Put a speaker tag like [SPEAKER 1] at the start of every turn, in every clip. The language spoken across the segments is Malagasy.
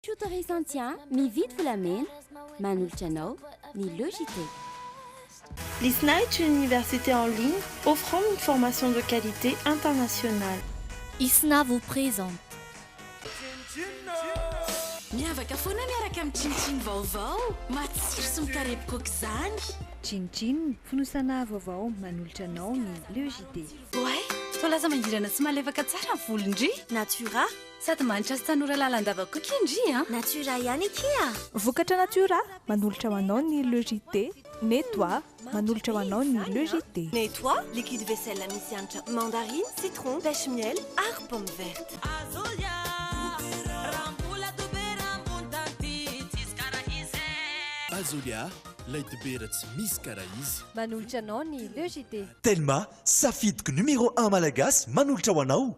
[SPEAKER 1] Tuto Recensia, Mividy volamena, manolotra anao ny Logitech.
[SPEAKER 2] L'ISNAIC, une université en ligne offrant une formation de qualité internationale. Isna
[SPEAKER 3] vous présente.
[SPEAKER 4] Miavaka foana miaraka amin'ny Chin Chin vaovao, matsiro sy mikarepoka aok'izany. Chin Chin,
[SPEAKER 5] fonosana vaovao, manolotra anao ny Logitech. Oay!
[SPEAKER 4] Toa lasa mangirana sy malefaka tsara ny volon-dry Natura!
[SPEAKER 6] Sady manitra sy
[SPEAKER 4] tanora lalandava koa ki ndry a! Natura ihany akia
[SPEAKER 6] a! Vokatra Natura,
[SPEAKER 5] manolotra ho anao ny Le JT, Nettoie, manolotra ho anao ny Le JT. Nettoie, liquide
[SPEAKER 6] vaisselle misy hanitra mandarine, citron, pêche miel ary pomme verte. Azolia, raha mbola dobera ambony tany ty
[SPEAKER 7] tsisy karaha izy eh. Azolia, lay dobera tsy misy karaha izy. Manolotra anao ny
[SPEAKER 5] Le JT. Telma,
[SPEAKER 8] safidiko numéro un malagasy manolotra ho anao.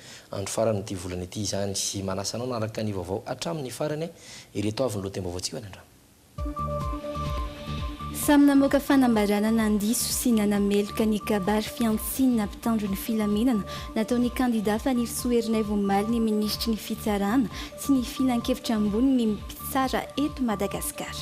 [SPEAKER 9] Andro faran'ity volana ity izany. Manasa anao hanaraka ny vaovao hatramin'ny farany. Ireto avy ny lohatenim-baovaontsika ho an'ny androany.
[SPEAKER 10] Samy namoaka fanambarana nandiso sy nanameloka ny kabary fihantsian'ny na mpitandro ny filaminana nataon'ny kandida Fanirisoa Erinaivo omaly ny minisitry ny fitsarana sy ny filankevitra ambony ny mpitsara eto Madagasikara.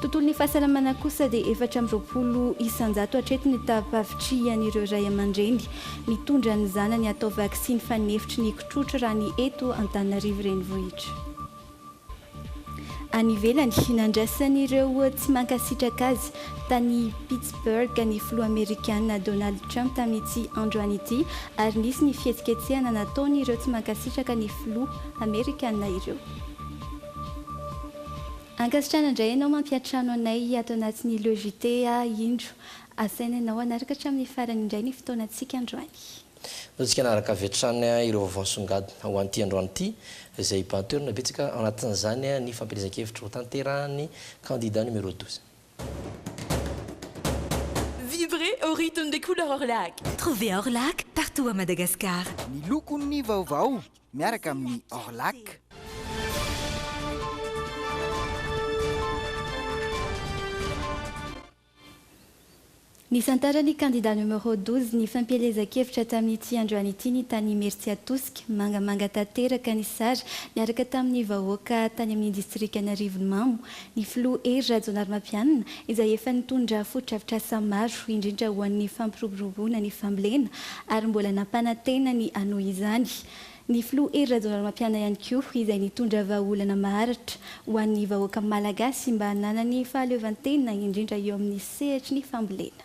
[SPEAKER 10] Tontolon'ny fahasalamana kosa dia efatra amby roapolo isan-jato hatreto ny tapavitrihan'ireo ray aman-dreny mitondra ny zanany hatao vaksiny fanefitry ny kitrotro raha ny eto Antananarivo Renivohitra. Any ivelany, nandrasan'ireo tsy mankasitraka azy tany Pittsburgh ny filoha amerikana Donald Trump tamin'ity androany ity ary nisy ny fihetsiketsehana nataon'ireo tsy mankasitraka ny filoha amerikana ireo. Ankasitrana indray ianao mampiantrano anay ato anatin'ny Le JT a! Indro asaina ianao hanaraka hatramin'ny farany indray ny fotoanantsika androany. Antsika
[SPEAKER 9] hanaraka avy hatrany ireo vaovao nisongadina ho an'ity androany ity, izay hibahan toerana betsaka, ao anatin'izany ny fampielezan-kevitra ho tanterahan'ny kandida numéro douze.
[SPEAKER 4] Vivrez au rythme des couleurs Orlac! Trouvez Orlac
[SPEAKER 3] partout à Madagascar! Ny lokon'ny
[SPEAKER 11] vaovao. miaraka amin'ny Orlac.
[SPEAKER 10] Nisantaran'ny kandida numéro douze ny fampielezan-kevitra tamin'ity androany ity ny tany Imeritsiatosika. Mangamanga tanteraka ny sary miaraka tamin'ny vahoaka tany amin'ny distrikan'Arivonimamo. ny filoha Hery Rajaonarimampianina, izay efa nitondra fotodrafitrasa maro, indrindra ho an'ny fampiroboroboana ny fambolena, ary mbola nampanantena ny hanohy izany. Ny filoha Hery Rajaonarimampianina ihany koa, izay nitondra vahaolana maharitra ho an'ny vahoaka malagasy mba hananany fahaleovantena, indrindra eo amin'ny sehatry ny fambolena.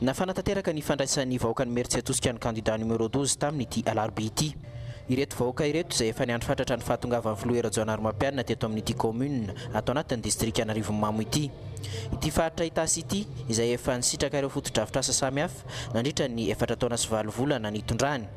[SPEAKER 12] Nafana tanteraka ny fandraisan'ny vahoakan'i Mertsiatosika ny kandidà numéro douze taminy ity alarobia ity. Ireto vahoaka ireto izay efa niandry fatratra ny fahatongavan'ny filoha Hery Rajaonarimampianina teto amin'ity kaominina ato anatin'ny distrika Anarivonimamo ity. Ity faritra Itasy ity izay efa nisitraka ireo fotodrafitrasa samihafa nandritra ny efatra taona sy valo volana nitondrany,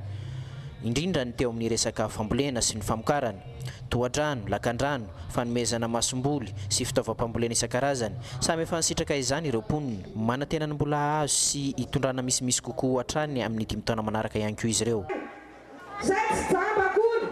[SPEAKER 12] indrindra ny teo amin'ny resaka fambolena sy ny famokarana. Tohadrano, lakandrano, fanomezana masomboly sy fitaovam-pambolena isan-karazany. Samy efa nisitraka izany ireo mponina. Manantena ny mbola hahazo sy hitondrana misimisy kokoa hatrany amin'ny dimy taona manaraka ihany koa izy ireo. Izay
[SPEAKER 13] tsy jamba akory,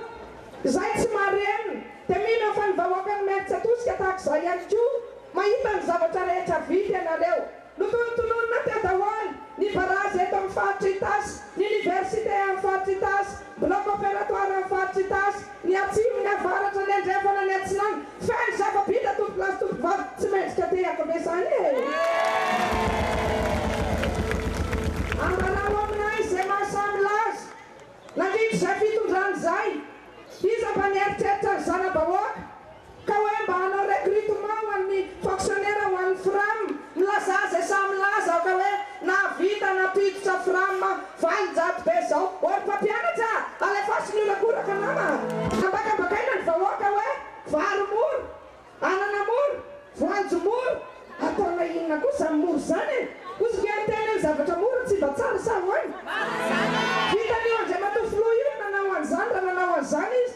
[SPEAKER 13] izay tsy marenina dia mino fa ny vahoakan'i Imerintsiatosika tahaka izao ihany koa mahita ny zavatra rehetra vita ianareo. Notonontononina teo daholo ny barazy eto amin'ny faritra Itasy, ny Oniversite amin'ny faritra Itasy, Bloc opératoire amin'ny faritra Itasy, ny Atsimo, ny Avaratra, ny Andrefana, ny Atsinanana. Feno zava-bita tompokolahy sy tompokovavy tsy mendrika tehaka ve izany e? Ambarao aminay izay mahasamy laza. Nandritra izay fitondrana izay, iza mba nieritreritra ny zana-bahoaka? Ka hoe mba hanao recrutement ho an'ny fonctionnaire ho an'ny Fram, milazà izay sahy milaza aho ka hoe nahavita nampiditra Fram valin-jato be izao. Ô ry mpampianatra a! Alefaso ny horakoraka nama a! Ambakambakaina ny vahoaka hoe vary mora, anana mora, voanjo mora, ataonay inona koa izany mora izany e? Kosa ve miteny hoe ny zavatra mora tsy mba tsara sa ahoana? Vitan'io Andriamatoa Filoha io ny nanao an'izany raha nanao an'izany izy.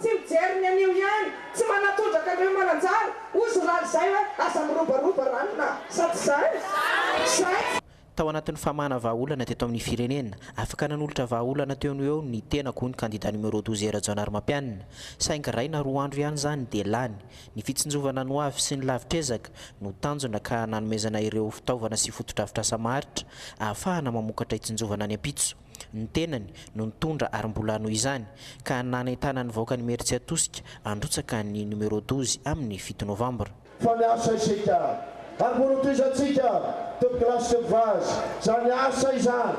[SPEAKER 13] Tsy mijery ny anio ihany, tsy manatondraka an'ireo mananjara, hozy rary izay hoe aza mirobaroba ranona sa tsy izay? Izay! Tao anatin'ny
[SPEAKER 12] famahana vahaolana teto amin'ny firenena, afaka nanolotra vahaolana teo no eo ny tenako, hoy ny kandida numéro douze Rajaonarimampianina. Saingy iray na roa andro ihany izany dia lany. Ny fitsinjovana ny ho avy sy ny lavitr'ezaka no tanjona ka nanomezana ireo fitaovana sy fotodrafitrasa maharitra ahafahana mamokatra hitsinjovana any ampitso. ny tenany no nitondra ary mbola noho izany ka nanentana ny vahoakan'Imeritsiatosika handrotsaka ny numéro douze amin'ny fito novambra. Fa miasa isika
[SPEAKER 14] ary mbola ho tohiza antsika Top Class Top Vaz izany asa izany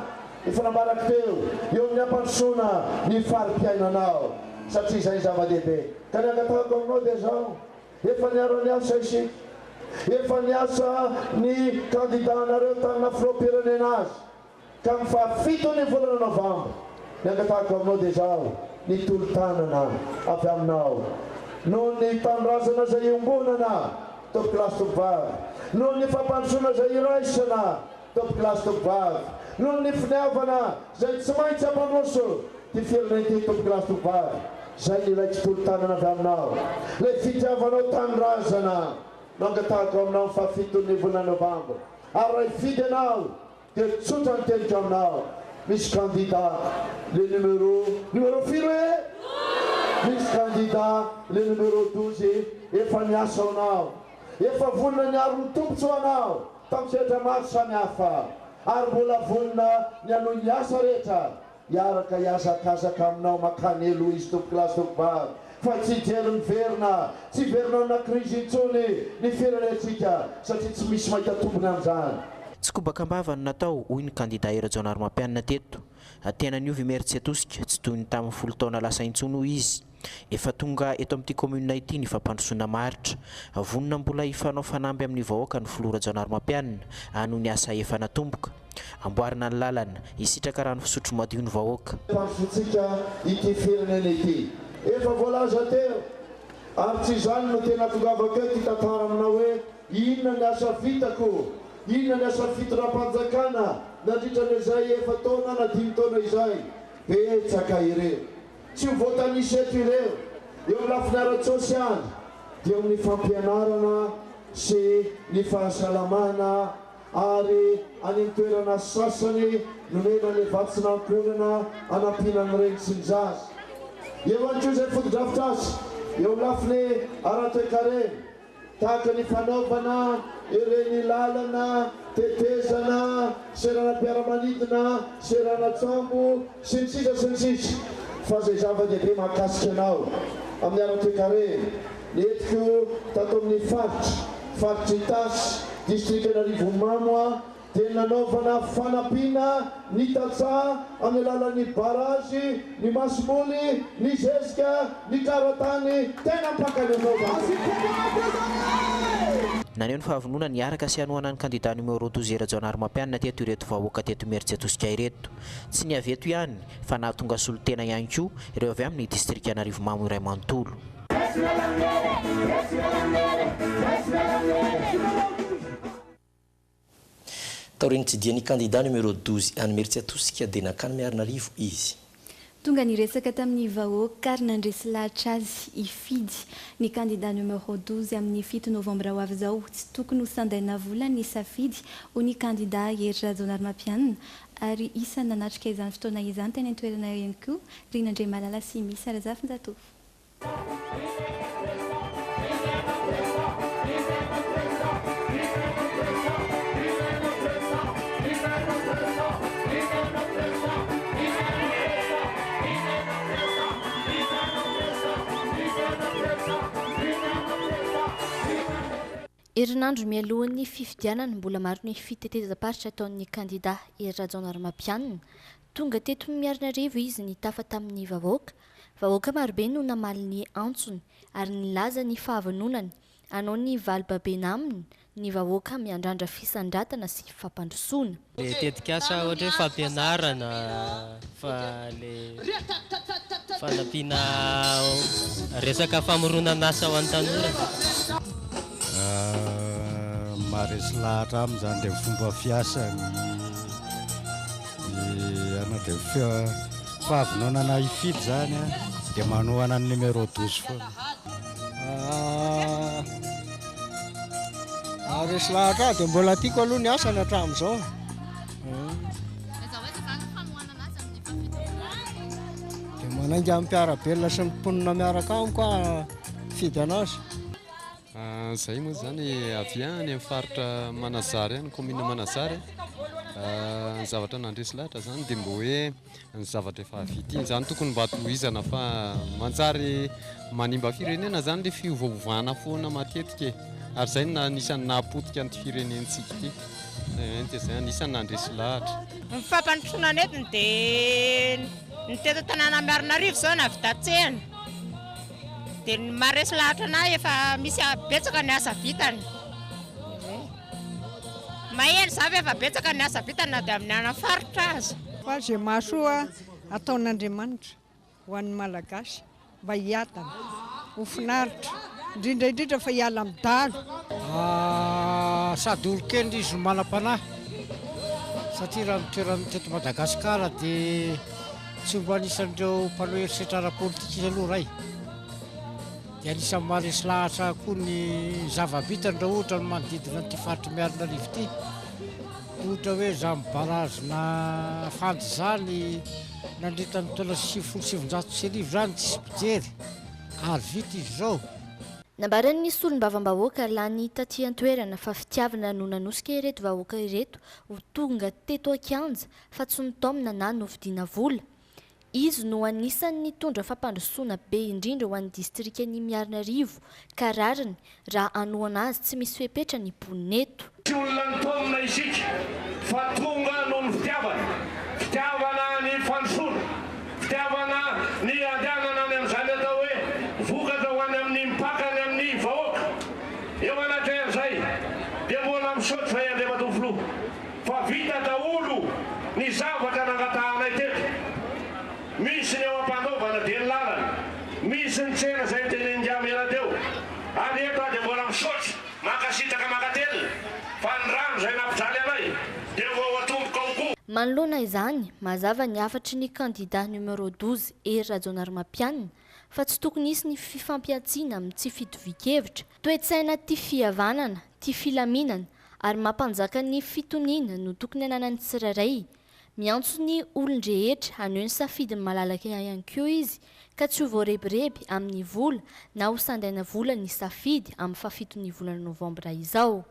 [SPEAKER 14] efa nambarako teo eo amin'ny hampandrosoana ny fari-piainanao satria izay ny zava-dehibe ka ny angatahako aminao dia izao efa niara-niasa isika efa niasa ny kandidànareo tamin'ny naha filoham-pirenena azy Tamin'ny faha fiton'ny volana novambra, nangatahako aminao dia izaho ny tolo-tanana avy aminao noho ny tanindrazana izay iombonana, tompoko lahy sy tompovavy, noho ny fampandrosoana izay iraisana, tompoko lahy sy tompovavy, noho ny finiavana izay tsy maintsy hampandroso ity firenena ity, tompoko lahy sy tompovavy, izay nilaiko tolo-tanana avy aminao, ilay fitiavanao tanindrazana no angatahako aminao amin'ny faha fiton'ny volana novambra, ary raha hifidy ianao, Dia tsotra ny teniko aminao misy kandida le numéro numéro firy oe? Misy kandida le numéro douze efa niasa ho anao efa vonona niaro ny tompotso ho anao tam sehatra maro samy hafa ary mbola vonona ny hanohy ny asa rehetra Hiaraka hihazakazaka aminao makany eloha izy tompokolahy sy tompobavy fa tsy hijery miverina tsy hiverina amina crise intsony ny firenentsika satria tsy misy mahita tombony amin'izany. Tsy kobaka am-bava
[SPEAKER 12] no natao, hoy ny kandida Herajaonarimampianina teto. Tena niova i Meritsy Atosika, tsy toy ny tamin'ny folo taona lasa intsony, hoy izy. Efa tonga eto amin'ity kaominina ity ny fampandrosoana maharitra. Vonona mbola hifanao fanamby amin'ny vahoaka ny filoha Rajaonarimampianina a noho ny asa efa natomboka. Amboarina ny lalana, hisitraka rano fisotro madio ny vahoaka. Tafitsiaka
[SPEAKER 14] ity firenena ity. Efa voalaza teo, ary tsy izany no tena tongavako eto hitantara aminao hoe inona ny asa vitako, inona ny asa fitondram-panjakana nandritra an'izay efa-taona na dimy taona izay. Betsaka ireo. Tsy ho voatanisa eto ireo. Eo amin'ny lafiny ara-tsosialy dia eo amin'ny fampianarana sy ny fahasalamana ary any amin'ny toerana sasany nomena ilay vatsin'ankohonana hanampiana ny reny sy ny zaza. Eo ihany koa izay fotodrafitrasa eo amin'ny lafiny ara-toekarena Tahaka ny fanaovana ireny lalana, tetezana, seranam-piaramanidina, seranan-tsambo, sy ny sisa sy ny sisa. Fa izay zava-dehibe mahakasika anao amin'ny ara-toekarena, nentiko tato amin'ny faritra, faritr' Itasy, distrikan'Arivonimamo, dia nanaovana fanampiana ny tantsaha amin'ny alalan'ny barazy, ny masomoly, ny zezika, ny karatany, tena ampakany anao zany.
[SPEAKER 12] Naneho ny fahavononany hiaraka sy hanohana ny kandida numéro roa Tosia Rajaonarimampianina teto ireto vahoaka teto Imerintsiatosika ireto. Tsy ny avy eto ihany fa nahatonga solontena ihany koa ireo avy amin'ny distrika Anarivomamo iray manontolo.
[SPEAKER 9] Taorian'ny nitsidihan'ny kandida numéro douze any Imeritsiatosika dia nankany Miarinarivo izy. Tonga niresaka
[SPEAKER 10] tamin'ny vahoaka ary nandresy lahatra azy i Fidy. Ny kandida numéro douze amin'ny fito novambra ho avy izao. Tsy tokony ho sandaina vola ny safidy, hoy ny kandida Hery Rajaonarimampianina. Ary isan'ny nanatrika izany fotoana izany teny an-toerana ihany koa ry Nandriamalala sy Missa Razafinjatovo.
[SPEAKER 3] Herinandro mialohan'ny fifidianana, mbola maro ny fitetezam-paritra ataon'ny kandida Hery Rajaonarimampianina. Tonga teto Miarinarivo izy nitafa tamin'ny vahoaka, Vahoaka marobe no namaly ny antsony ary nilaza ny fahavononany hanao ny vali-babena aminy ny vahoaka miandrandra fisandratana sy fampandrosoana. Le tetikasa
[SPEAKER 15] ohatra hoe fampianarana fa le fanampiana resaka famoronan'asa ho an'ny tanora.
[SPEAKER 16] Maharesy lahatra aminy izany le fomba fiasany. Fahavononana hifidy izany an, dia manohana ny numéro 12 foana.
[SPEAKER 17] Ah, resy lahatra aho dia mbola tiako aloha ny asany hatramin'izao. Dia manainga amin'ny mpiara-belona sy ny mponina miaraka amiko aho fidy anazy.
[SPEAKER 18] Izahay moa izany avy any amin'ny faritra Manazary any, kaominina Manazary. Ny zavatra nandresy lahatra izany dia mba hoe ny zavatra efa vita iny izany tokony mba tohizana fa manjary manimba firenena izany ilay fiovaovana foana matetika e. Ary izay no anisan'ny nahapotika an'ity firenentsika ity. Dia izay anisan'ny nandresy lahatra. Ny fampandrosoana
[SPEAKER 19] nentiny dia ny teto an-tanàna Miarinarivo izao navidatsehina. Dia ny maharesy lahatra anah efa misy a- betsaka ny asa vitany. Mahery za fa efa betsaka ny asa vitany na dia amin'ny ana faritra aza. Fa izay mahasoa
[SPEAKER 20] ataon'Andriamanitra ho an'ny Malagasy mba hiadana, ho finaritra, indrindra indrindra fa hiala amin'ny dahalo.
[SPEAKER 17] Sady olon-kendry izy no manam-panahy satria raha ny toerany teto Madagasikara dia Tsy mba anisan'ireo mpanao herisetra ara-politika izy aloha Ray. Dia anisan'ny maharesy lahatra ahy koa ny zava-bitany raha ohatra ny manodidina an'ity faritry Miarinarivo ity. Ohatra hoe izany barazina fandy izany nandritra ny taona sivifolo sy sivinjato sy arivo izany tsisy mpijery ary vita izy izao. Nambaran'ny
[SPEAKER 3] solombavambahoaka lany taty an-toerana fa fitiavana no nanosika ireto vahoaka ireto ho tonga teto an-kianja fa tsy nitaomina na novidiana vola. Izy no anisan'ny nitondra fampandrosoana be indrindra ho an'ny distrikan'I Miarinarivo ka rariny raha hanohana azy tsy misy fepetra ny mponina eto. Tsy olona nitaomina
[SPEAKER 21] isika fa tonga noho ny fitiavana. Fitiavana ny fandrosoana. Fitiavana ny handehanana any amin'izany atao hoe vokatra ho any amin'ny mpaka any amin'ny vahoaka. Eo anatrehan'izay dia mbola misaotra izay Andriamatoa Filoha. Fa vita daholo ny zavatra nangatahanay teto. Misy ny eo am-panaovana dia ny lalana, misy ny tsena izay notenenin-dRa Mera teo. Ary eto aho dia mbola misaotra, mankasitraka mankatelina, fa ny rano izay nampijaly anay dia ho ao an-tomboka ao koa. Manoloana izany,
[SPEAKER 3] mazava ny hafatry ny kandida numéro douze Hery Rajaonarimampianina fa tsy tokony hisy ny fifampihantsiana amin'ny tsy fitovian-kevitra Toe-tsaina tia fihavanana, tia filaminana ary mampanjaka ny fitoniana no tokony ananan'ny tsirairay. Miantso ny olon-drehetra haneho ny safidiny malalaka ihany koa izy ka tsy ho voarebireby amin'ny vola na ho sandaina vola ny safidy amin'ny fahafito ny volana novambra izao.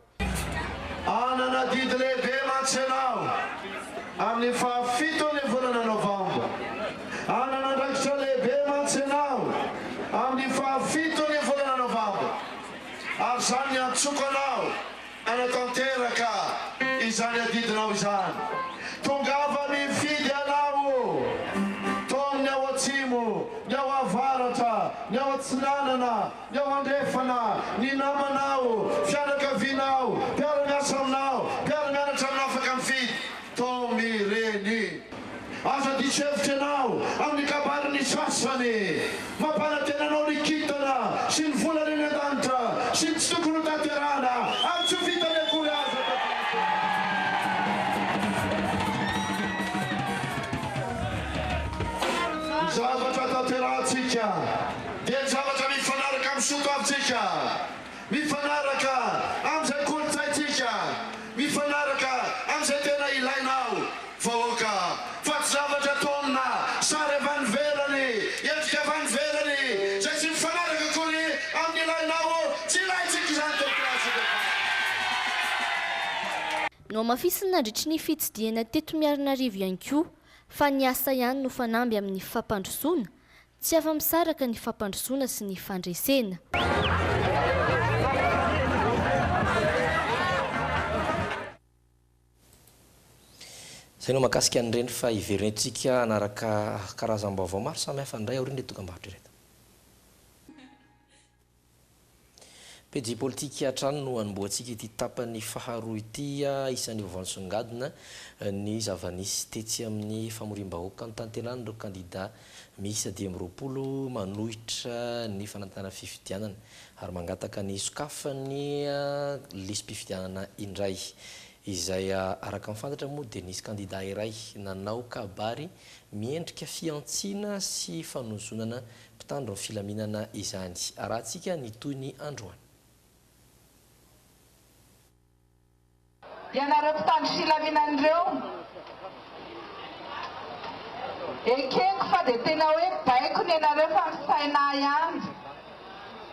[SPEAKER 14] Hanana adidy lehibe mantsy ianao amin'ny fahafiton'ny volana Novambra. Hanana andraikitra lehibe mantsy ianao amin'ny fahafiton'ny volana Novambra, ary izany niantsoako anao hanatanteraka izany adidinao izany. Tongava mifidy anao o! Taomin'ny ao atsimo, ny ao avaratra, ny ao atsinanana, Ny ao andrefana, ny namanao, fianakavianao, mpiara-miasa aminao, mpiara-mianatra aminao afaka mifidy. Tom ireny. Aza diso hevitra ianao amin'ny kabarin'ny sasany. Mampanantena anao ny kintana sy ny volana eny an-danitra sy ny tsy tokony hotanterahana ary tsy ho vitany akory aza taty anatin'ny zavatra tanterahantsika. dia ny zavatra mifanaraka amin'ny soatoavintsika, mifanaraka amin'izay kolontsaintsika, mifanaraka amin'izay tena ilainao vahoaka fa tsy zavatra tonona, sary avy any ivelany, endrika avy any ivelany izay tsy mifanaraka akory amin'ny ilainao, tsy ilaintsika izany tetik'Alatsika fa.
[SPEAKER 3] Nohamafisiny nandritry ny fitsidihana teto Miarinarivo ihany koa fa ny asa ihany no fanamby amin'ny fampandrosoana Tsy afa-misaraka ny fampandrosoana sy ny fandresena.
[SPEAKER 9] Izay no mahakasika an'ireny fa hiverina eto isika hanaraka karazam-baovao maro samihafa indray aorian'ireto dokam-barotra ireto. Pejy politika hatrany no anombohantsika ity tapany faharoa ity isan'ny hovansongadina ny zava-nisy tetsy amin'ny famoriam-bahoaka notanteran'ireo kandida miisa dimy amby roapolo manohitra ny fanantenana fifidianana ary mangataka ny hisokafan'ny lisi-pifidianana indray izay araka ny fantatra moa dia nisy kandida iray nanao kabary miendrika fihantsiana sy fanozonana Mpitandro ny filaminana izany. Arahantsika ny tohiny androany.
[SPEAKER 13] Ianareo mpitandro filaminana ireo, ekeko fa dia tena hoe baiko ny anareo fa misaina ahy ihany.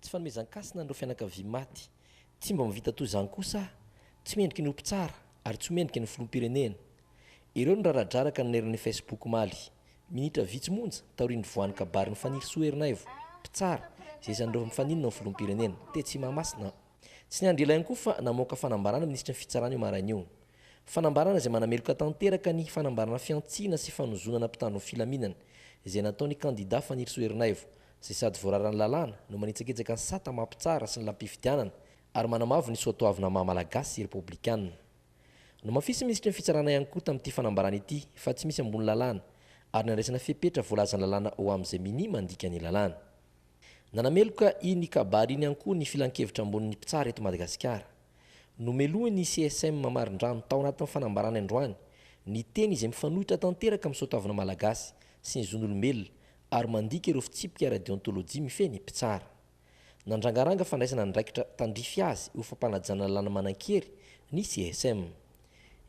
[SPEAKER 9] Tsy fanomezan-kasina an'ireo fianakaviam maty. Tsy mba mivita toy izany kosa aho. Tsy mendriky ny ho mpitsara ary tsy ho mendriky ny filoham-pirenena. Ireo no raradraraka naneran'ny Facebook omaly, minitra vitsy monja taorian'ny nivoahan'ny kabarin'i Fanirisoa Ernaivo, mpitsara, izay isan'ireo mifaninona amin'ny filoham-pirenena, tetsy Mahamasina. Tsy niandry ela ihany koa fa namoaka fanambarana ny minisitry ny Fitsarana io maraina io. Fanambarana izay manameloka tanteraka ny fanambarana fihantsiana sy fanozonana mpitandro ny filaminana izay nataon'ny kandida Fanirisoa Ernaivo izay sady voararan'ny lalàna no manitsakitsaka ny sata mampitsara sy ny lam-pifidianana ary manamavo ny soatoavinà maha Malagasy sy Repoblikana. Nomafisin'ny Minisitry ny Fitsarana ihany koa tamin'ity fanambarana ity fa tsy misy ambony lalàna ary nandraisana fepetra voalazan'ny lalàna ho amin'izay minia mandika ny lalàna. Nanameloka iny kabary iny ihany koa ny Filankevitra ambonin'ny mpitsara eto Madagasikara. Nomelohin'ny CSM Mamarindranony tao anatin'ny fanambarany androany ny teny izay mifanohitra tanteraka amin'ny soatoavinà Malagasy sy ny zon'olombelona ary mandika ireo fitsipika ara-deontôlôjia mifehy ny mpitsara. Nandrangaranga fandraisana andraikitra tandrify azy ho fampanajana lalàna manan-kery ny CSM.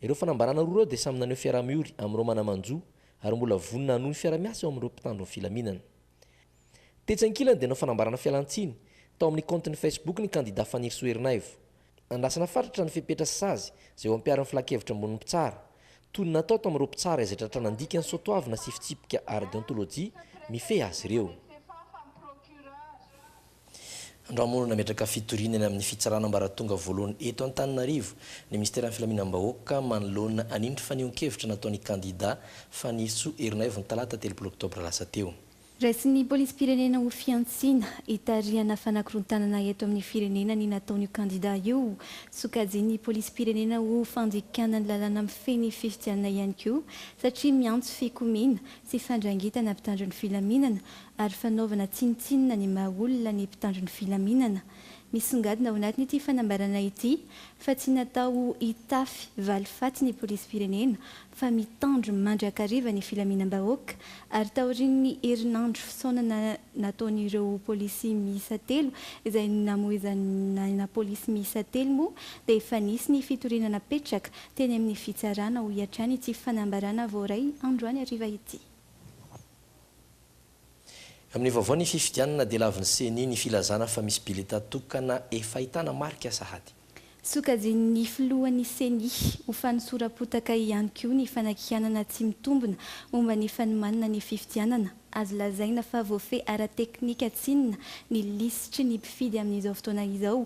[SPEAKER 9] Ireo fanambarana roa ireo dia samy naneho fiaraha-miory amin'ireo mana-manjo ary mbola vonona hanohy ny fiara-miasa eo amin'ireo mpitandro ny filaminana. Tetsy ankilany dia nanao fanambarana fialan-tsiny tao amin'ny kaontiny Facebook ny kandidà Fanirisoa Erinaivo, Andrasana fatratra ny fepetra sy sazy izay ho ampiharin'ny Filankevitra Ambonin'ny Mpitsara. Toy ny natao tamin'ireo mpitsara izay tratra nandika ny soatoavina sy fitsipika ara-deontolojia mifehy azy ireo, androany moa no nametraka fitoriana eny amin'ny Fitsarana Ambaratonga Voalohany eto Antananarivo ny Minisiteran'ny Filaminam-bahoaka manoloana an'iny fanehoan-kevitra nataon'ny kandida Fanirisoa Ernaivo ny talata telopolo oktobra lasa teo. Raisin'ny
[SPEAKER 10] polisim-pirenena ho fihantsiana, hitarihana fanakorontanana eto amin'ny firenena ny nataon'io kandida io. Sokajian'ny polisim-pirenena ho fandikana ny lalàna mifehy ny fifidianana ihany koa satria miantso fikomiana sy fandrangitana mpitandro ny filaminana ary fanaovana tsinontsinona ny maha olona ny mpitandro ny filaminana. Misongadina ao anatin'ity fanambarana ity fa tsy natao ho hitafy valifaty ny polisim-pirenena fa mitandro mandrakariva ny filaminam-bahoaka ary taorian'ny herinandro fisaonana nataon'ireo polisy miisa telo izay namoizan'aina polisy miisa telo moa dia efa nisy ny fitoriana napetraka teny amin'ny fitsarana, hoy hatrany ity fanambarana voaray androany hariva ity.
[SPEAKER 9] Amin'ny vaovao ny fifidianana dia lavin'ny Ceni ny filazana fa misy bileta tokana efa ahitana marika sahady. Sokajian'ny
[SPEAKER 10] filohan'ny Ceni ho fanosora-potaka ihany koa ny fanakianana tsy mitombina momba ny fanomanana ny fifidianana. Azo lazaina fa voafehy ara-teknika tsinona ny lisitry ny mpifidy amin'izao fotoana izao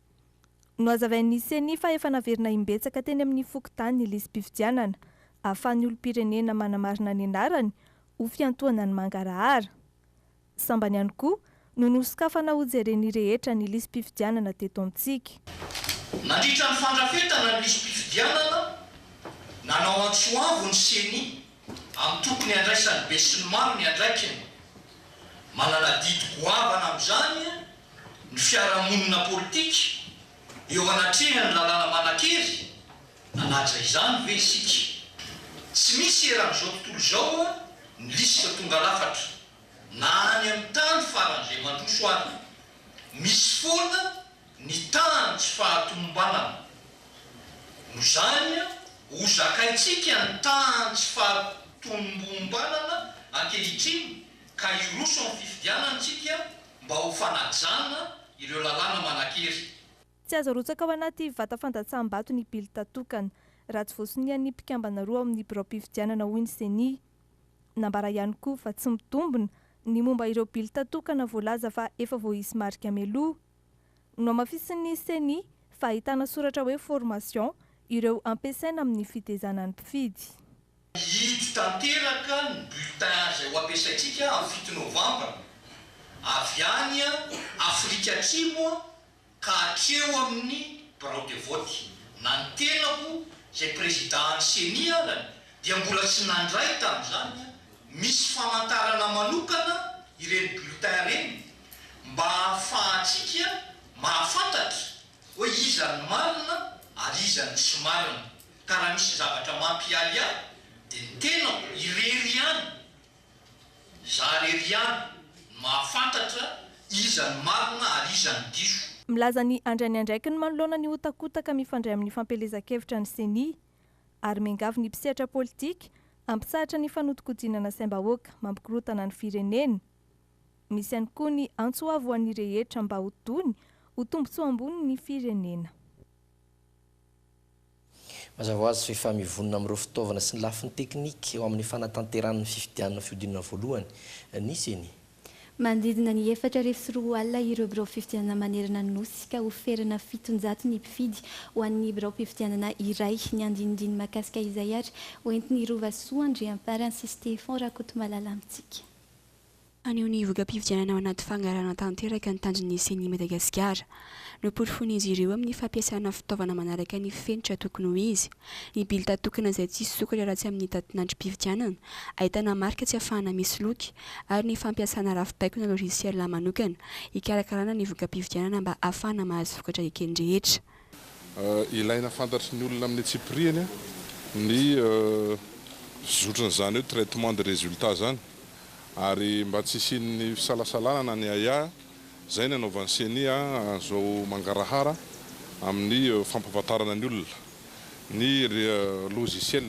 [SPEAKER 5] Nohazavain'ny Ceni fa efa naverina imbetsaka teny amin'ny fokontany ny lisi-pifidianana ahafahan'ny olom-pirenena manamarina ny anarany ho fiantohana ny mangarahara. Sambany ihany koa no nosokafana hojeren'ny rehetra ny lisi-pifidianana teto amintsika. Nandritra
[SPEAKER 1] ny fandrafetana ny lisi-pifidianana, nanao antso avo ny Ceni amin'ny tokony handraisan'ny besinimaro ny andraikiny. Manana adidy goavana amin'izany ny fiarahamonina politika eo anatrehan'ny lalàna manan-kery? Nanaja izany ve isika? Tsy misy eran'izao tontolo izao ny lisitra tonga lafatra, na any amin'ny tany faran'izay mandroso any. Misy foana ny tahan'ny tsy fahatomombanana. Noho izany, hozakaintsika ny tahan'ny tsy fahatomombanana ankehitriny ka hiroso amin'ny fifidianana isika mba ho fanajana ireo lalàna manan-kery. Tsy azo arotsaka
[SPEAKER 5] ao anaty vata fandatsaham-bato ny bilta tokana, raha tsy voasonian'ny mpikambana roa ao amin'ny biraom-pifidianana, hoy ny Ceni. Nambara ihany koa fa tsy mitombina ny momba ireo bilta tokana voalaza fa efa voaisy marika mialoha. Nohamafisin'ny Ceni fa ahitana soratra hoe Formation ireo ampiasaina amin'ny fitezana ny mpifidy. Hihidy
[SPEAKER 1] tanteraka ny bulletin izay ho ampiasaintsika amin'ny fito novambra, avy any Afrika Atsimo ka hatreo amin'ny birao de vote. Na ny tenako izay prezidan'ny ceni arany dia mbola tsy nandray tamin'izany, misy famantarana manokana ireny bulletin ireny mba hahafahantsika mahafantatra hoe iza ny marina ary iza no tsy marina. Ka raha misy zavatra mampiahy ahy dia ny tenako irery ihany. Izaho irery ihany no mahafantatra iza no marina ary iza no diso. Milaza ny handray
[SPEAKER 5] ny andraikiny manoloana ny hotakotaka mifandray amin'ny fampielezan-kevitra ny Ceni, ary miangavy ny mpisehatra politika hampitsahatra ny fanodinkodinana saim-bahoaka mampikorotana ny firenena. Misy ihany koa ny antso avo ho an'ny rehetra mba ho tony ho tombontsoa ambony ny firenena.
[SPEAKER 9] Mazava ho azy fa efa mivonona amin'ireo fitaovana sy ny lafiny teknika eo amin'ny fanatanterahana ny fifidianana fihodinana voalohany ny ceni. Manodidina
[SPEAKER 10] ny efatra arivo sy roa alina ireo birao fifidianana manerana ny Nosy ka ho ferana fitonjato ny mpifidy ho an'ny biraom-pifidianana iray. Niandinindiny mahakasika izay ary ho entin'i Rovasoa Andriamparany sy Stefan Rakotomalala amintsika. Haneho
[SPEAKER 22] ny voka-pifidianana ao anaty fangarahana tanteraka ny tanjon'ny Ceni Madagasikara. Noporofoin'izy ireo amin'ny fampiasana fitaovana manaraka ny fenitra tokony ho izy, ny bilta tokana izay tsy hisy sokatra raha tsy amin'ny datin'androm-pifidianana, ahitana marika tsy afahana misoloky, ary ny fampiasana rafi-baikona logiciel manokana hikarakarana ny voka-pifidianana mba hahafahana mahazo vokatra eken-drehetra. Ilaina
[SPEAKER 23] fantatry ny olona amin'ny antsipirihany ny fizotran'izany hoe traitement de résultat izany ary mba tsy hisian'ny fisalasalana na ny ahiahy, izay no anaovan'ny ceni an'izao mangarahara amin'ny fampahafantarana ny olona ny logiciel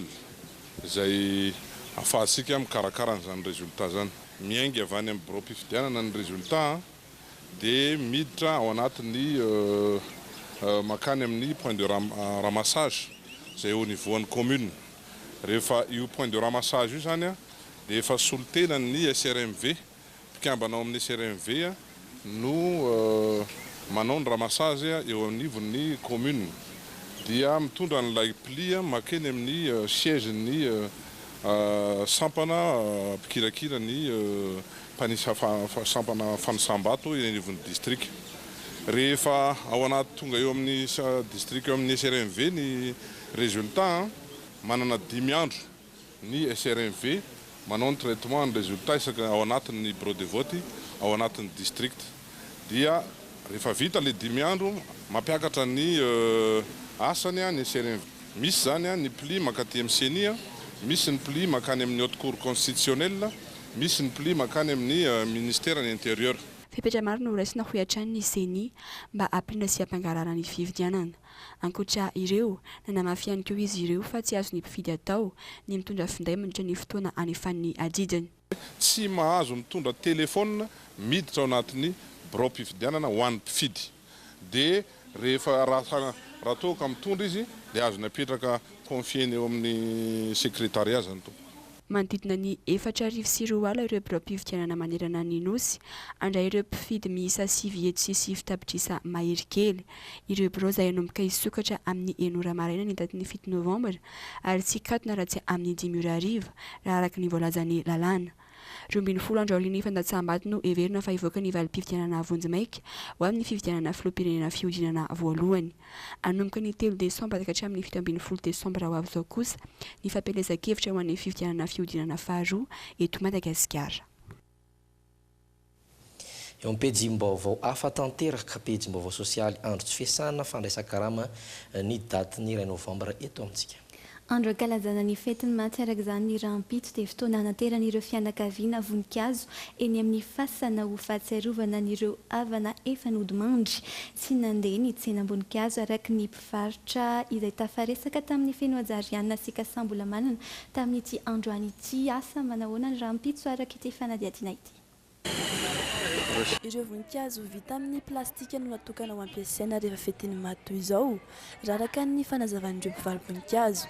[SPEAKER 23] izay ahafahantsika mikarakara an'izany résultat izany. Miainga avy any amin'ny biraom-pifidianana ny résultat dia miditra ao anatin'ny mankany amin'ny point de ramassage izay au niveau an'ny commune. Rehefa io point de ramassage io izany dia efa solontenan'ny SRMV, mpikambana ao amin'ny SRMV no manao ny ramassage eo anivon'ny commune. Dia mitondra an'ilay pli mankeny amin'ny siège-n'ny sampana mpikirakira ny mpanisa sampana fanisam-bato eny anivon'ny distrika. Rehefa ao anaty tonga eo amin'ny distrika eo amin'ny SRMV ny résultat, manana dimy andro ny SRMV manao ny traitement ny résultat isaka ao anatin'ny bureau de vote ao anatin'ny distrika. dia rehefa vita ilay dimy andro, mampiakatra ny asany ny CNV. Misy izany ny pli mankaty amin'ny ceni, misy ny pli mankany amin'ny Haute Cour Constitutionnelle, misy ny pli mankany amin'ny Ministeran'ny Intérieur. Fepetra maro no horaisina
[SPEAKER 22] hoy hatrany ny ceni mba hampirimana sy hampangarahara ny fifidianana. Ankoatra ireo, nanamafy ihany koa izy ireo fa tsy azon'ny mpifidy atao ny mitondra finday mandritra ny fotoana anefan'ny adidiny. tsy
[SPEAKER 23] mahazo mitondra telefaonina miditra ao anatin'ny biraom-pifidianana ho an'ny mpifidy dia rehefa raha raha toa ka mitondra izy dia azony apetraka confier-ny eo amin'ny secrétariat izany tompoko. Manodidina ny
[SPEAKER 22] efatra arivo sy roa ala ireo biraom-pifidianana manerana ny Nosy. Handray ireo mpifidy miisa sivy etsy sy sivy tapitrisa mahery kely. ireo birao izay hanomboka hisokatra amin'ny enina ora maraina ny datin'ny fito novambra ary tsy hikatona raha tsy amin'ny dimy ora hariva, raha araka ny voalazan'ny lalàna. Roa ambin'ny folo andro aorian'ny fandatsaham-bato no heverina fa hivoaka ny valim-pifidianana vonjimaika ho amin'ny fifidianana filoham-pirenena fihodinana voalohany. Hanomboka ny telo desambra ka hatramin'ny fito ambin'ny folo desambra ho avy izao kosa ny fampielezan-kevitra ho an'ny fifidianana fihodinana faharoa eto Madagasikara.
[SPEAKER 9] Eo amin'ny pejim-baovao hafa tanteraka, pejim-baovao sosialy, andro tsy fiasana, fandraisan-karama, ny datin'ny iray novambra eto amintsika. Andro ankalazana
[SPEAKER 10] ny fetin'ny maty araka izany ny rahampitso dia fotoana hanateran'ireo fianakaviana voninkazo eny amin'ny fasana ho fahatsiarovana an'ireo havana efa nodimandry sy nandeha ny tsenam-boninkazo araka ny Varotra izay tafaresaka tamin'ny Fenohajariana sy Kasambolamanana tamin'ity androany ity. Asa manahoana ny rahampitso araka ity fanadihadiana ity?
[SPEAKER 2] Ireo voninkazo vita amin'ny plastika no natokana ho ampiasaina rehefa fetin'ny maty toy izao, raraka ny fanazavan'ireo mpivaro-boninkazo.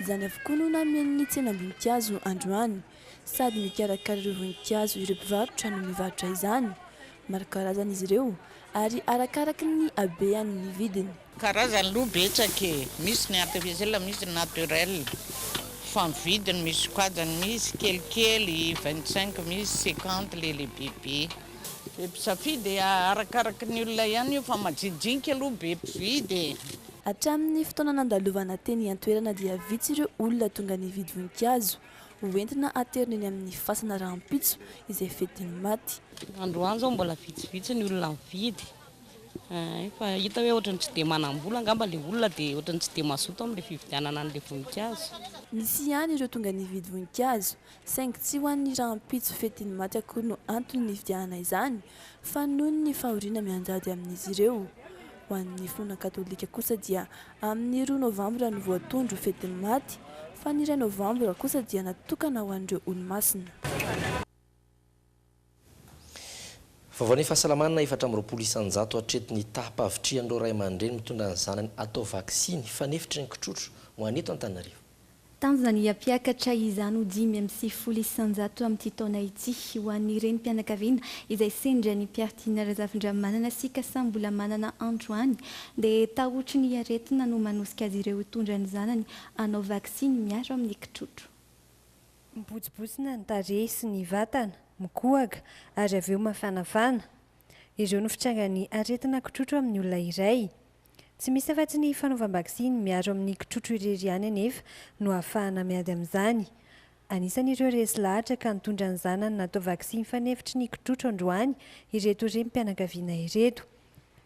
[SPEAKER 2] Izany avokoa no namehy ny tsenam-boninkazo androany. Sady mikarakara ireo voninkazo ireo mpivarotra no mivarotra izany. Maro karazana izy ireo ary arakaraky ny habeany ny vidiny. Karazany aloha
[SPEAKER 6] betsaka e! Misy ny artificiel, misy ny naturel. Fa ny vidiny misokajany, misy kelikely, vingt cinq, misy cinquante le le bebe. Be mpisafidy e! Arakaraky ny olona ihany io fa majijinika aloha be mpividy e! Hatramin'ny
[SPEAKER 2] fotoana nandalovana teny an-toerana dia vitsy ireo olona tonga nividy voninkazo. Ho entina haterina eny amin'ny fasana rahampitso izay fidin'ny maty. Androany izao mbola
[SPEAKER 7] vitsivitsy ny olona mividy ay fa hita hoe ohatran'ny tsy dia manam-bola angamba ilay olona dia ohatran'ny tsy dia mazoto amin'ilay fividianana an'ilay voninkazo. Nisy ihany
[SPEAKER 2] ireo tonga nividy voninkazo saingy tsy ho an'ny rahampitso fidin'ny maty akory no antony nividianana izany fa noho ny fahoriana mianjady amin'izy ireo. Ho an'ny finoana katolika kosa dia Amin'ny roa novambra no voatondro ho fetin'ny maty, fa ny iray novambra kosa dia natokana ho an'ireo Olomasina.
[SPEAKER 9] Vaovao ny fahasalamana, efatra amby roapolo isan-jato hatreto ny taham-pahavitrihan'ireo ray aman-dreny mitondra ny zanany atao vaksiny fanefitry ny kitrotro ho any eto Antananarivo. Tanjona ny
[SPEAKER 10] hampiakatra izany ho dimy amby sivifolo isanjato amin'ity taona ity ho an'ny renim-pianakaviana izay sendra ny mpiafidiana Razafindramanana sy Kasa mbola manana antro any dia tahotry ny aretina no manosika azy ireo hitondra ny zanany hanao vaksiny miaro amin'ny kitrotro.
[SPEAKER 24] Mibotsibosina ny tarehy sy ny vatana, mikohaka ary avy eo mafanafana. Ireo no fitrangan'ny aretina kitrotro amin'ny olona iray. Tsy misy afa-tsy ny fanaovam-baksiny miaro amin'ny kitrotro irery ihany anefa no ahafahana miady amin'izany. Anisan'ireo resy lahatra ka nitondra ny zanany natao vaksiny fanefitry ny kitrotro androany ireto renim-pianakaviana ireto.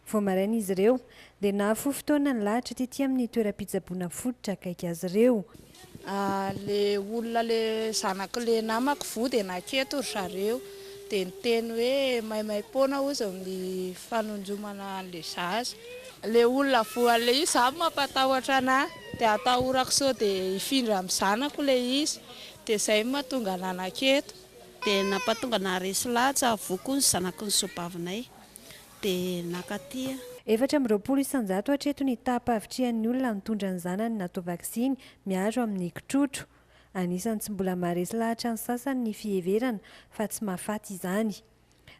[SPEAKER 24] Vao maraina izy ireo, dia nahafoy fotoana nilahatra tety amin'ny toeram-pitsaboana fototra akaiky azy ireo. Le
[SPEAKER 6] olona le zanak'i le namako voa dia naketo ry zareo dia niteny hoe maimaimpoana hozy ny fanonjomana an'le zaza. Le olona voa le izy zany mampatahotra anahy dia atahorako sao dia hifindra amin'ny zanako le izy dia zay no mahatonga anahy naketo. Dia nampatonga
[SPEAKER 25] anahy resy lahatsa voa koa ny zanaky ny soabavinay dia nakaty. Efatra amby roapolo
[SPEAKER 24] isan-jato hatreto ny taham-pahavitrihan'ny olona nitondra ny zanany natao vaksiny miaro amin'ny kitrotro. Anisan'ny tsy mbola maharesy lahatra ny sasany ny fiheverana fa tsy mahafaty izany.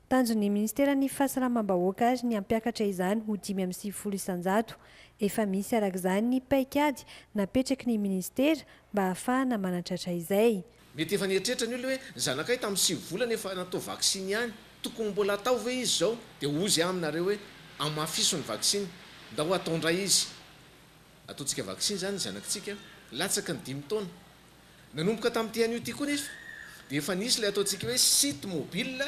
[SPEAKER 24] Tanjon'ny Ministeran'ny Fahasalamam-bahoaka ary ny hampiakatra izany ho dimy amby sivifolo isan-jato. Efa misy arak'izany ny paikady napetraky ny Ministera mba hahafahana manatratra izay. Mety efa nieritreritra
[SPEAKER 26] ny olona hoe, ny zanakay tamin'ny sivy volana efa natao vaksiny ihany, tokony mbola atao ve izy izao? Dia hozy aminareo hoe, hamafiso ny vaksiny, ndao atao indray izy. Ataontsika vaksiny izany ny zanakitsika latsaky ny dimy taona. Nanomboka tamin'ity anio ity koa nefa dia efa nisy ilay ataontsika hoe site mobile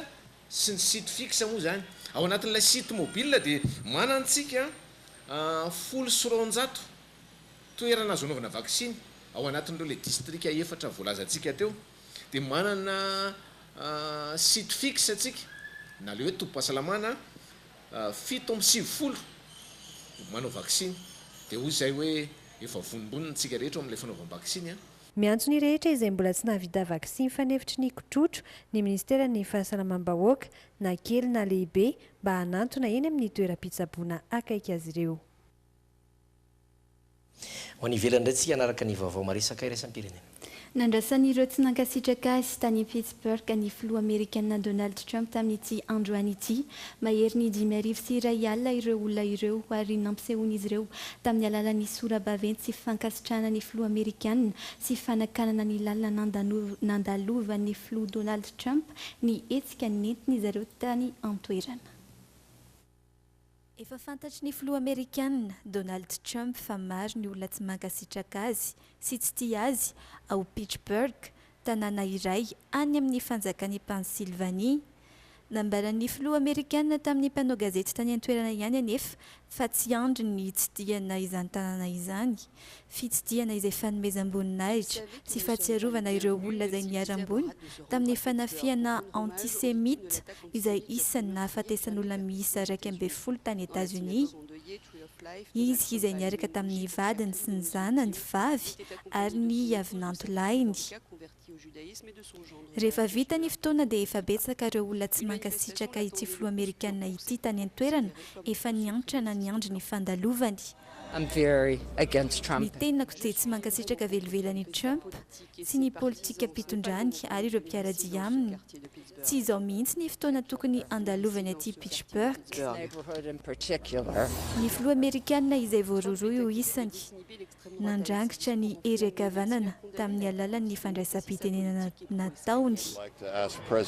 [SPEAKER 26] sy ny site fixe moa izany. Ao anatin'ilay site mobile dia manana antsika folo sy roanjato. toerana azo anaovana vaksiny ao anatin'ireo ilay distrika efatra voalazantsika teo dia manana site fixe antsika na ilay hoe tobim-pahasalamana fito amby sivifolo manao vaksiny dia hoy izay hoe efa vonombonona isika rehetra ao amin'ilay fanaovam-baksiny an. Miantso
[SPEAKER 24] ny rehetra izay mbola tsy nahavita vaksiny fanefitry ny kotrotro ny minisiteran'ny fahasalamam-bahoaka na kely na lehibe mba hanantona eny amin'ny toeram-pitsaboana akaiky azy ireo.
[SPEAKER 9] Ho any ivelany indray tsika hanaraka ny vaovao maresaka iraisam-pirenena. Nandrasan'ireo
[SPEAKER 10] tsy nankasitraka azy tany Pittsburgh ny Filoha Amerikana Donald Trump tamin'ity androany ity. Maherin'ny dimy arivo sy iray alina ireo olona ireo ary nampisehoan'izy ireo tamin'ny alalan'ny sora-baventy sy fankasitrahana ny Filoha Amerikana sy fanakanana ny lalana nandalovan'ny Filoha Donald Trump ny hetsika nentin'izy ireo tany an-toerana. Efa fantatry ny filoha amerikana, Donald Trump fa maro ny olona tsy mankasitraka azy sy tsy tia azy ao Pittsburgh, tanàna iray any amin'ny fanjakan'i Pennsylvanie. Nambaran'ny filoha amerikana tamin'ny mpanao gazety tany an-toerana ihany anefa fa tsy andriny ny hitsidihana izany tanàna izany. fitsidihana izay fanomezam-boninahitra sy fahatsiarovana ireo olona izay niharam-boina tamin'ny fanafihana antisemita izay isan'ny nahafatesan'olona miisa iraika ambin'ny folo tany Etazonia, izy izay niaraka tamin'ny vadiny sy ny zanany vavy ary ny havinantolahiny. Rehefa vita ny fotoana dia efa betsaka ireo olona tsy mankasitraka ity filoha amerikana ity tany an-toerana, efa niantrana niandry ny fandalovany. Ny tenako dia tsy mankasitraka velively an'i Trump sy ny politikam-pitondrany ary ireo mpiara-dia aminy. Tsy izao mihitsy ny fotoana tokony handalovany aty Pitchburgh. Ny filoha amerikana izay voarohirohy ho isany. nandrangitra ny hery an-kavanana tamin'ny alalan'ny fandraisam-pitenenana nataony.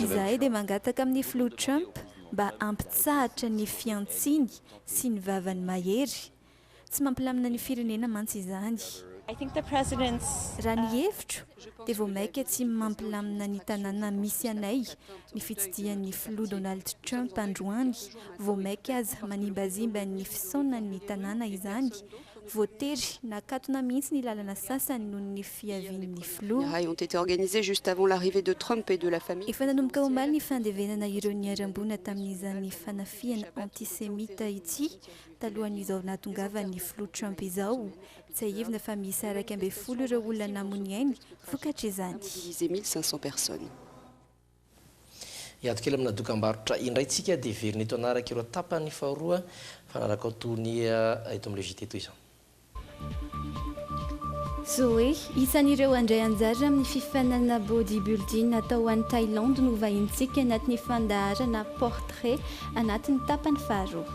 [SPEAKER 10] Izahay dia mangataka amin'ny Filoha Trump mba hampitsahatra ny fihantsiany sy ny vavany mahery. Tsy mampilamina ny firenena mantsy izany. Raha ny hevitro, dia vao mainka tsy mampilamina ny tanàna misy anay ny fitsidihan'ny Filoha Donald Trump androany, vao mainka aza manimbazimba ny fisaonan'ny tanàna izany Voatery nakatona mihitsy ny lalana sasany noho ny fiavian'ny filoha. Efa nanomboka omaly ny fandevenana ireo niharam-boina tamin'izany fanafihana antisemita ity talohan'izao nahatongavan'ny filoha Trump izao. Tsiahivina fa miisa iraika ambin'ny folo ireo olona namoniainy vokatr'izany.
[SPEAKER 9] Hiato kely amina dokambarotra indray tsika dia hiverina eto hanaraka ireo tapany faharoa fanarakaoa tony eto amin'ilay JT toy izao.
[SPEAKER 10] Zoe, isan'ireo handray anjara amin'ny fifaninanana Body Building atao any Thailandy no vahinintsika anatin'ny fandaharana Portrait anatin'ny tapany faharoa.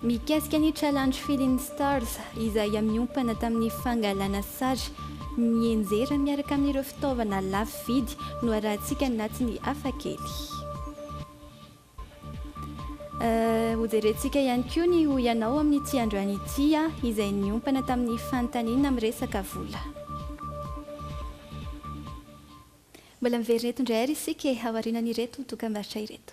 [SPEAKER 10] Mikasika ny Challenge Feeling Stars izay miompana tamin'ny fangalana sary mienjera miaraka amin'ireo fitaovana lafo vidy no arahantsika anatin'ny Hafa kely. Hojerentsika ihany koa ny Hoy Ianao amin'ity androany ity izay niompana tamin'ny fanontaniana miresaka vola. Mbola miverina eto indray ary isika e, aorianan'ireto dokam-barotra ireto.